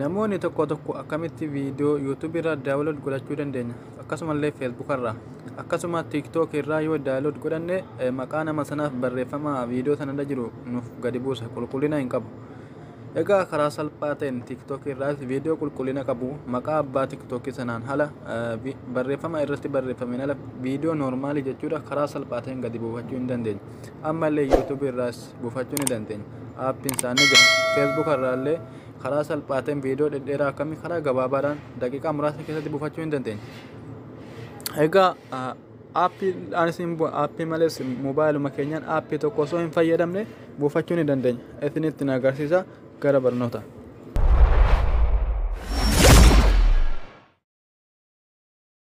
Namoonni tokko tokko akkamitti viidiyoo YouTube irraa daawunlood godhachuu dandeenya akkasumallee Facebook irraa akkasuma TikTok irraa yoo daawunlood godhanne maqaa nama sanaaf barreeffama viidiyoo sanarra jiru nuuf gadi buusa qulqullina hin qabu. Egaa karaa salphaa ta'een TikTok irraas viidiyoo qulqullina qabu maqaa abbaa TikTok sanaan hala barreeffama irratti barreeffameen ala viidiyoo noormaalii jechuudha karaa salphaa ta'een gadi buufachuu hin dandeenya. Ammallee YouTube irraas buufachuu ni dandeenya. Aappiin isaa ni jira. Facebook irraa illee karaa salphaa ta'een viidiyoo dhedheeraa akkamii karaa gabaabaadhaan daqiiqaa muraasa keessatti buufachuu ni dandeenya. Egaa aappiidhaan isin aappii malees mobaayiluma keenyaan aappii tokko osoo hin fayyadamne buufachuu ni dandeenya. Isinitti na agarsiisa gara barnoota.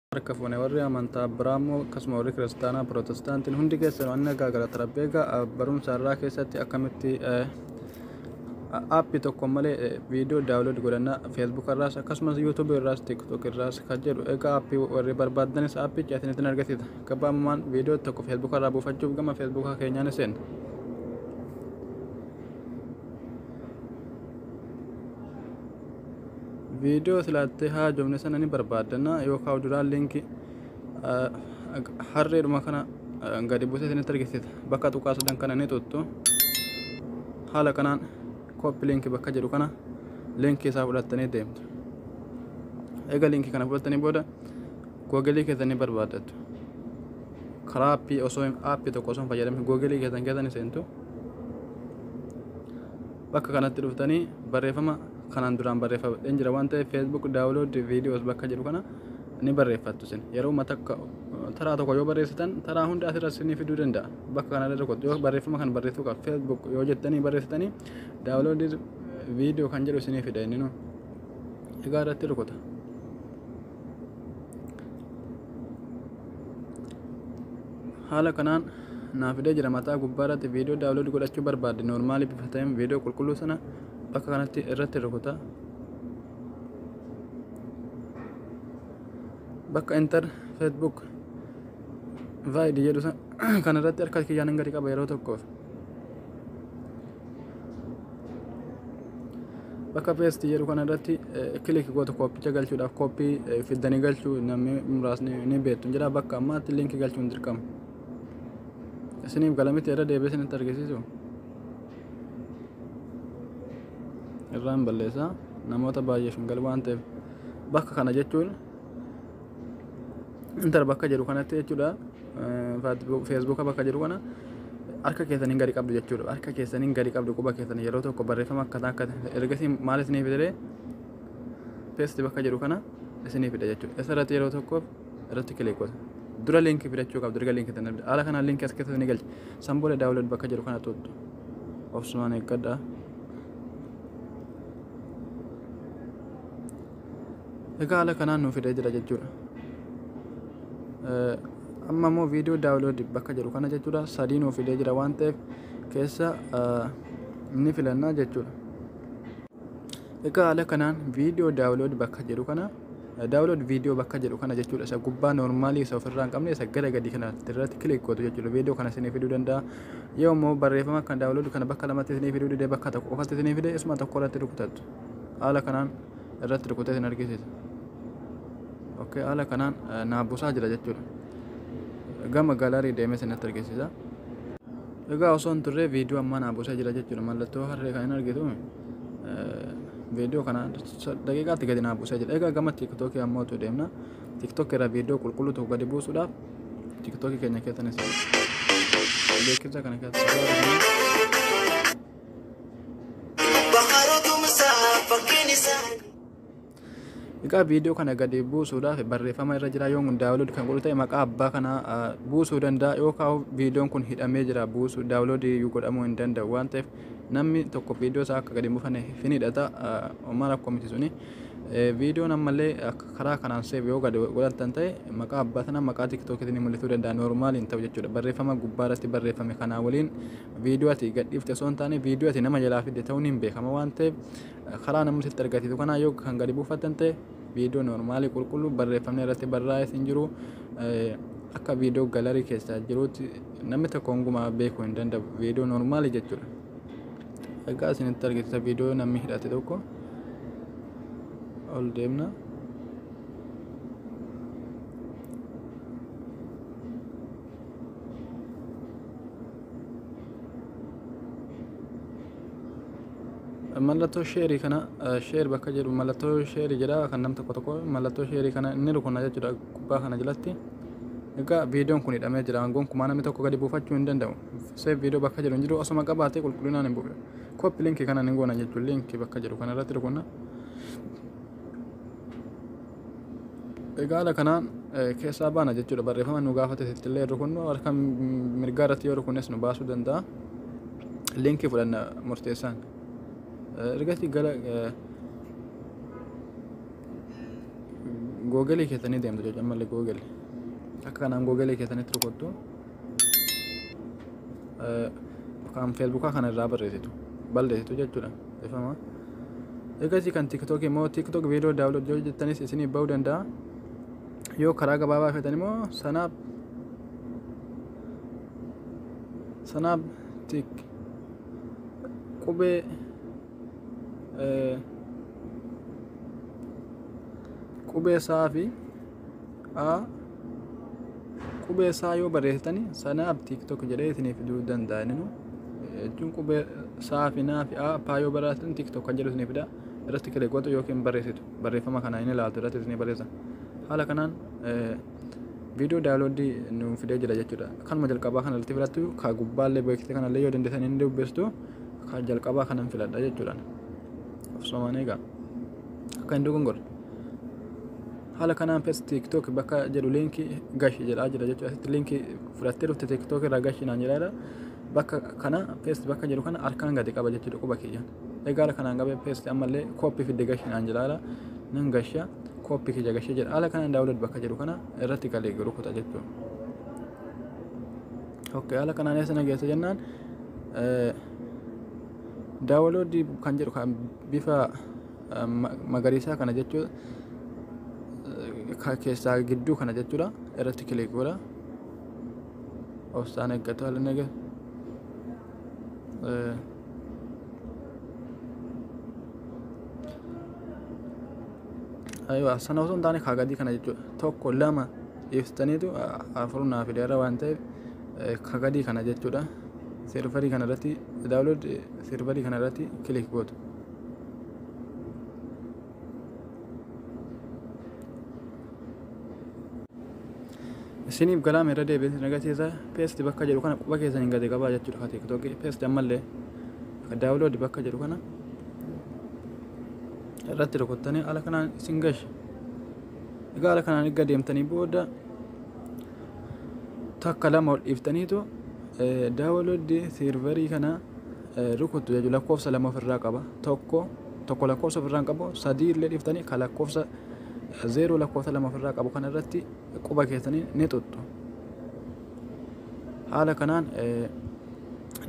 harka fuune warri amantaa biraa immoo akkasuma warri kiristaanaa pirootestaantiin hundi keessan waan nagaa galata rabbi egaa barumsa irraa keessatti akkamitti aappii tokko malee viidiyoo daawulood godhannaa feesbuuk irraas akkasumas yuutuubii irraas tiiktook irraas kan jedhu egaa aappii warri barbaaddanis aappii caatiin argisiisa gabaabamaan viidiyoo tokko feesbuuk irraa buufachuuf gama feesbuukaa keenyaan isin viidiyoo silaattee haajomne sana ni barbaaddanna yookaan uduraan liinkii harreedhuma kana gadi buusee isinitti argisiisa bakka tuqaa sadan kana ni tuttu haala kanaan kooppi liinkii bakka jedhu kana liinkii isaa fudhattanii deemtu eega liinkii kana fudhattanii booda googelii keessan ni barbaaddattu karaa appii osoo appii tokko osoo hin fayyadamin googelii keessan keessa ni seentu Bakka kanatti dhuftanii barreeffama kanaan duraan barreeffadheen jira waan ta'eef Facebook download videos bakka jedhu kana ni barreeffattu isin yeroo matakka taraa tokko yoo barreessitan taraa hunda asirra isinii fiduu danda'a bakka kana irra tokko yoo barreeffama kan barreessuu qaba Facebook yoo jettanii barreessitanii download video kan jedhu isinii fida inni nu egaa irratti rukuta. Haala kanaan naa fidee jira mataa gubbaa irratti viidiyoo daawlood godhachuu barbaadde noormaalii bifa ta'een viidiyoo qulqulluu sana bakka kanatti irratti rukuta. Bakka intar feesbuuk vaayid jedhu kan irratti harka kiyyaan gadi qaba yeroo tokkoof. bakka peesti jedhu kana irratti kiliki goota kooppicha galchuudhaaf kooppii fiddanii galchuu namni muraasni ni beektu jira bakka ammaatti linki galchuun dirqama isiniif galamitti irra deebi'ee isinitti argisiisu irraan balleessaa namoota baay'eef hin galu waan ta'eef bakka kana jechuun intar bakka jedhu kanatti jechuudha feesbuuka bakka jedhu kana harka keessaniin gadi qabdu jechuudha harka keessaniin gadi qabdu quba keessan yeroo tokko barreeffama akkataa akka ergasii maal isinii fidee peesti bakka jedhu kana isinii fida jechuudha isarratti yeroo tokko irratti kilik godha dura liinkii fidachuu qabdu erga liinkii tan haala kanaan liinkii as keessatti ni galcha san booda daawulood bakka jedhu kana tuttu obsumaan eeggadhaa. Egaa haala kanaan nuu fidee jira jechuudha. Amma immoo viidiyoo daawuloodi bakka jedhu kana jechuudha sadii nuu fidee jira waan ta'eef keessa ni filannaa jechuudha. Egaa haala kanaan viidiyoo daawuloodi bakka jedhu kana daawuloodi viidiyoo bakka jedhu kana jechuudha isa gubbaa noormaalii isa ofirraa hin qabne isa gara gadii kana irratti kilik gootu jechuudha viidiyoo kana isinii fiduu danda'a yoo immoo barreeffama kan daawuloodi kana bakka lamatti isinii fiduu dide bakka tokko qofatti isinii fide isuma tokko irratti rukutattu haala kanaan irratti rukutee isin argisiisa. Okay, haala kanaan eh, naa busaa jira jechuudha. Gama galarii deemee isinitti argisiisa. Egaa osoo hin turre viidiyoo ammaa naa busaa jira jechuudha. Mallattoo harree kan hin argitu eh, viidiyoo kana sa- daqiiqaatti gadi naa busaa jira. Egaa gama tiiktookii ammoo utuu deemna. Tiiktookii irraa viidiyoo qulqulluu tokko gadi buusuudhaaf tiiktookii keenya keessanis beeksisa kana keessa. Egaa viidiyoo kana gadi buusuudhaaf barreeffama irra jira yoo daawulood kan godhu ta'e maqaa abbaa kana buusuu danda'a yoo kaa'u viidiyoon kun hidhamee jira buusuu daawulood godhamuu hin danda'u waan ta'eef namni tokko viidiyoo isaa akka gadi hin buufane hin hidhata homaa rakkoo miti suni viidiyoon ammallee karaa kanaan seef yoo gadi godhatan ta'e maqaa abbaa sana maqaa tiktookiitiin mul'isuu danda'a noormaaliin ta'u jechuudha barreeffama gubbaa irratti barreeffame kanaa waliin viidiyoo ati gadhiifte osoo hin taane viidiyoo ati nama jalaa fidde ta'uun hin beekama waan ta'eef karaa namni sitti argisiisu kanaa yoo kan gadi buufattan ta'e viidiyoo noormaalii qulqulluu barreeffamni irratti barraa'es hin jiru akka viidiyoo galarii keessaa jiruutti namni tokko hungumaa beekuu hin danda'u viidiyoo noormaalii jechuudha. Egaa isinitti argisiisa viidiyoo namni hidhate tokko ol deemna. mallattoo sheerii kana sheer bakka jedhu mallattoo sheerii jedha kan nam tokko tokko mallattoo sheerii kana inni rukunna jechuudha gubbaa kana jalatti egaa viidiyoon kun hidhamee jira aangoon kumaa namni tokko gadi buufachuu hin danda'u seef viidiyoo bakka jedhu hin jiru osuma qabaatee qulqullinaan hin bu'u kooppi linkii kana hin goona jechuun linkii bakka jedhu kana irratti rukunna Egaa haala kanaan keessaa baana jechuudha. Barreeffama nu gaafate illee rukunnu harka mirgaa irratti yoo rukunnes nu baasuu danda'a. Liinkii fudhanna murteessaan. Ergasii gara googelii keessanii deemtu jechuudha. Ammallee googel. Akka kanaan googelii keessanitti rukuttu. kan feesbuukaa kana irraa barreessitu balleessitu jechuudha dhifama egasii kan tiktookii immoo tiktook viidiyoo daawunlood yoo jettanis isinii ba'uu danda'a yoo karaa gabaabaa feetan immoo sanaaf sanaaf tik qubee qubee isaa fi a qubee isaa yoo barreessitani sanaaf tiktok jedhee isinii fiduu danda'a inni jechuun qubee saa fi naa fi a paa yoo barreessitan tiktok kan jedhu isinii fida irratti kilee gootu yookiin barreessitu barreeffama kana inni ilaaltu irratti isinii barreessa haala kanaan viidiyoo daawloodii nu fidee jira jechuudha kanuma jalqabaa kana irratti filattu ka gubbaallee beeksisa kanallee yoo dandeessan inni dubbistu ka jalqabaa kanan filadha jechuudha of somaan eegaa akka hin dogongorre haala kanaan pes tiktok bakka jedhu liinki gashi jedhaa jira jechuudha asitti liinki fudhattee dhufte tiktok irraa gashi naan jedhaadha bakka kana pes bakka jedhu kana harkaan gadi qaba jechuudha quba kiyyan egaa haala kanaan qabee pes ammallee kooppi fidde gashi naan jedhaadha nan gasha kooppi kiyya gashe jedha haala kanaan daawulad bakka jedhu kana irratti galee rukuta jechuudha ok haala kanaan eessa nageessa jennaan daawaloodii kan jedhu kan bifa magariisaa kana jechuu keessaa gidduu kana jechuudha irratti kiliik godha obsaan eeggatu haala nage aywa sana osoo hin taane kaa gadii kana jechuudha tokko lama ibsitaniitu afur naa fideera waan ta'eef ka gadii kana jechuudha sirvarii kana irratti daawlood sirvarii kana irratti kiliik gootu isiniif galaame irra deebiin isin agarsiisa peesti bakka jedhu kana quba keessan hin gadi qabaa jechuudha ka tiktokii peesti ammallee ka daawuloodi bakka jedhu kana irratti rukuttanii ala kanaan isin gashi egaa ala kanaan erga deemtanii booda takka lama ol dhiiftaniitu daawuloodi siirvarii kana rukuttu jechuudha. Lakkoofsa lama ofirraa qaba. Tokko tokko lakkoofsa ofirraa hin qabu. Sadii illee dhiftanii kan lakkoofsa zeeroo lakkoofsa lama ofirraa qabu kana irratti quba keessanii ni tuttu. Haala kanaan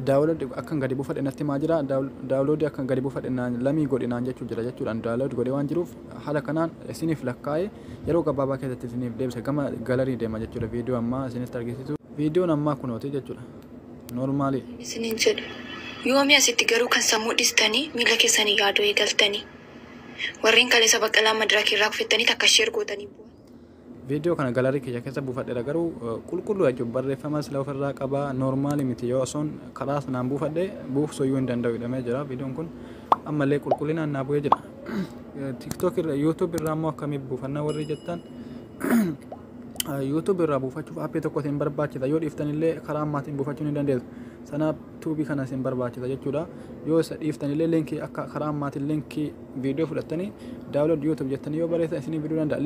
daawuloodi akkan gadi buufadhe natti himaa jira. Daawuloodi akkan gadi buufadhe lamii godhi naan jechuu jira jechuudha. Daawuloodi godhee waan jiruuf haala kanaan isiniif lakkaa'ee yeroo gabaabaa keessatti isiniif deebisa gama galarii deema jechuudha. Viidiyoo ammaa isinitti argisiisu. Viidiyoon ammaa kunooti jechuudha. Normaalidha. isiniin jedhu. Yoomii asitti garuu kan sammuu dhistanii miila keessaniin yaaduu eegaltanii? Warreen kaleessa Baqqalaa madirakiirraa kufettanii takka share gootanii boohan? Video kana gallery kiyya keessa buufadheera garuu qulqulluu jechuun barreeffama sila ofirraa qaba normaali miti yoo osoon karaa sanaan buufadhe buufsuyyuu hin danda'u jedhamee jira videon kun ammallee qulqullinaan naa bu'ee jira tiktok irra youtube irraa immoo akkamii buufanna warri jettan YouTube irraa buufachuuf appii tokko isin barbaachisa yoo dhiiftan illee karaa ammaatiin buufachuu ni dandeessu sanaaf tuubii kana isin barbaachisa jechuudha yoo isa dhiiftan illee linkii akka karaa ammaatiin linkii viidiyoo fudhattanii daawunlood YouTube jettanii yoo barreessan isinii fiduu danda'a